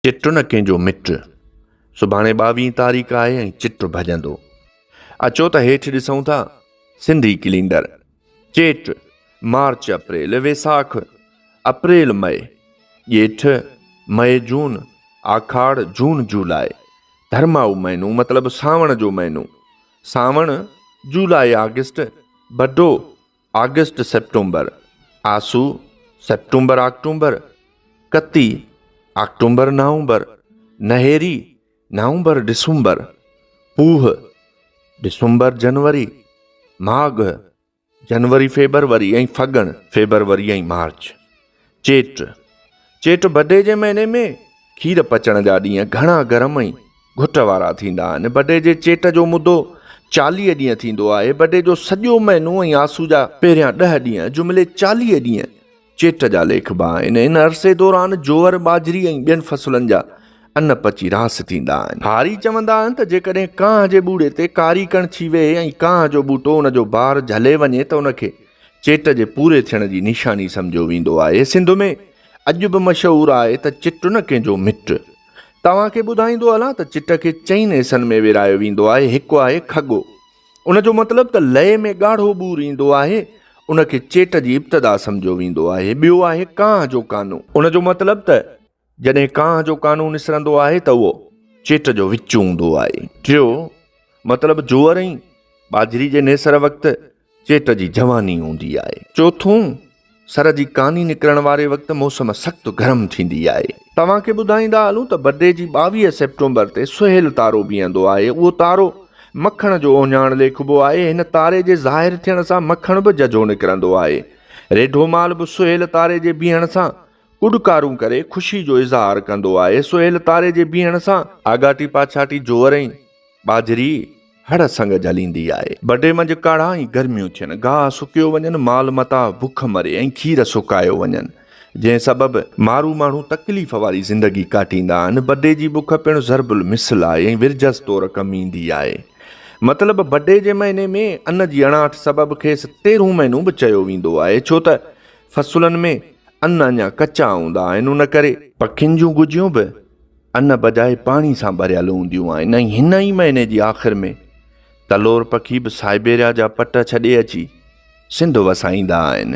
چٽ نه ڪنهنجو مٽ. سڀاڻي ٻاويهين تاريخ آهي ۽ چٽ ڀڄندو. اچو ته هيٺ ڏسون ٿا سنڌي ڪلينڊر. چيٽ، مارچ اپريل، ويساک، اپريل مئي، ڄيٺ، مئي جون، آکاڙ، جون جولاء، ڌرمائو مهينون مطلب سانوڻ جو مهينو، سانوڻ، جولاء آگسٽ، بڊو، آگسٽ سيپٽمبر، آسو، سيپٽمبر آڪٽومبر، ڪتي، آڪٽومبر نومبر، نهيري، نومبر ڊسمبر، پوهه، ڊسمبر جنوري، ماگهه، جنوري فيبروري ۽ ڦڳڻ، فيبروري ۽ مارچ، چيٽ، چيٽ بڊي جي مهيني ۾ کير پچڻ جا ڏينهن گهڻا گرم ۽ گهٽ وارا ٿيندا آهن. بڊي جي چيٽ جو مدو چاليهه ڏينهن ٿيندو آهي. بڊي جو سڄو مهينو ۽ آسو جا پهريان ڏهه ڏينهن جملي چاليهه ڏينهن چيٽ جا ليکبا آهن. ان عرصي دوران جوئر، ٻاجهري ۽ ٻين فصلن جا ان پچي راس ٿيندا آهن. هاري چوندا آهن ته جيڪڏهن ڪانه جي ٻوڙي تي ڪاري ڪڻڇي ويهي ۽ ڪانه جو ٻوٽو ان جو بار جهلي وڃي ته ان کي چيٽ جي پوري ٿيڻ جي نشاني سمجهيو ويندو آهي. سنڌ ۾ اڄ به مشهور آهي ته چٽ نه ڪنهن جو مٽ. توهان کي ٻڌائيندو هلان ته چٽ کي چئن حصن ۾ ورهايو ويندو آهي. هڪ آهي کڳو. ان جو مطلب ته لئي ۾ ڳاڙهو ٻور ايندو آهي. ان کي چيٽ جي ابتدا سمجهيو ويندو آهي. ٻيو آهي ڪانه جو ڪانو. ان جو مطلب ته جڏهن ڪانه جو قانون اسرندو آهي ته اهو چيٽ جو وچ هوندو آهي. ٽيو مطلب جوئر ۽ ٻاجهري جي نيسر وقت چيٽ جي جواني هوندي آهي. چوٿون، سر جي ڪاني نڪرڻ واري وقت موسم سخت گرم ٿيندي آهي. توهان کي ٻڌائيندا هلون ته برڊي جي ٻاويهه سيپٽمبر تي سهيل تارو بيهندو آهي. اهو تارو مکڻ جو اوهڃاڻ ليکبو آهي. هن تاري جي ظاهر ٿيڻ سان مکڻ به ججهو نڪرندو آهي. ريڍو مال به سهيل تاري جي بيهڻ سان ڪڏڪارون ڪري خوشي جو اظهار ڪندو آهي. سهيل تاري جي بيهڻ سان آڳاٽي پاڇاٽي جوئر ۽ ٻاجهري هڙ سنگ جهليندي آهي. بڍي منجهه ڪاڙها ۽ گرميون ٿين، گاهه سڪيو وڃن، مال متاع بک مري ۽ کير سڪايو وڃن، جنهن سبب مارو ماڻهو تڪليف واري زندگي ڪاٽيندا آهن. بڍي جي بک پڻ ضرب المثل آهي ۽ ورجس طور ڪم ايندي آهي. مطلب بڍي جي مهيني ۾ ان جي اڻاٺ سبب کيس تيرهون مهينو به چيو ويندو آهي، ڇو ته فصلن ۾ ان اڃا ڪچا هوندا آهن، ان ڪري. پکين جون گجيون به ان بجائي پاڻي سان ڀريل هونديون آهن ۽ هن ئي مهيني جي آخر ۾ تلور پکي به سائبيريا جا پٽ ڇڏي اچي سنڌ وسائيندا آهن.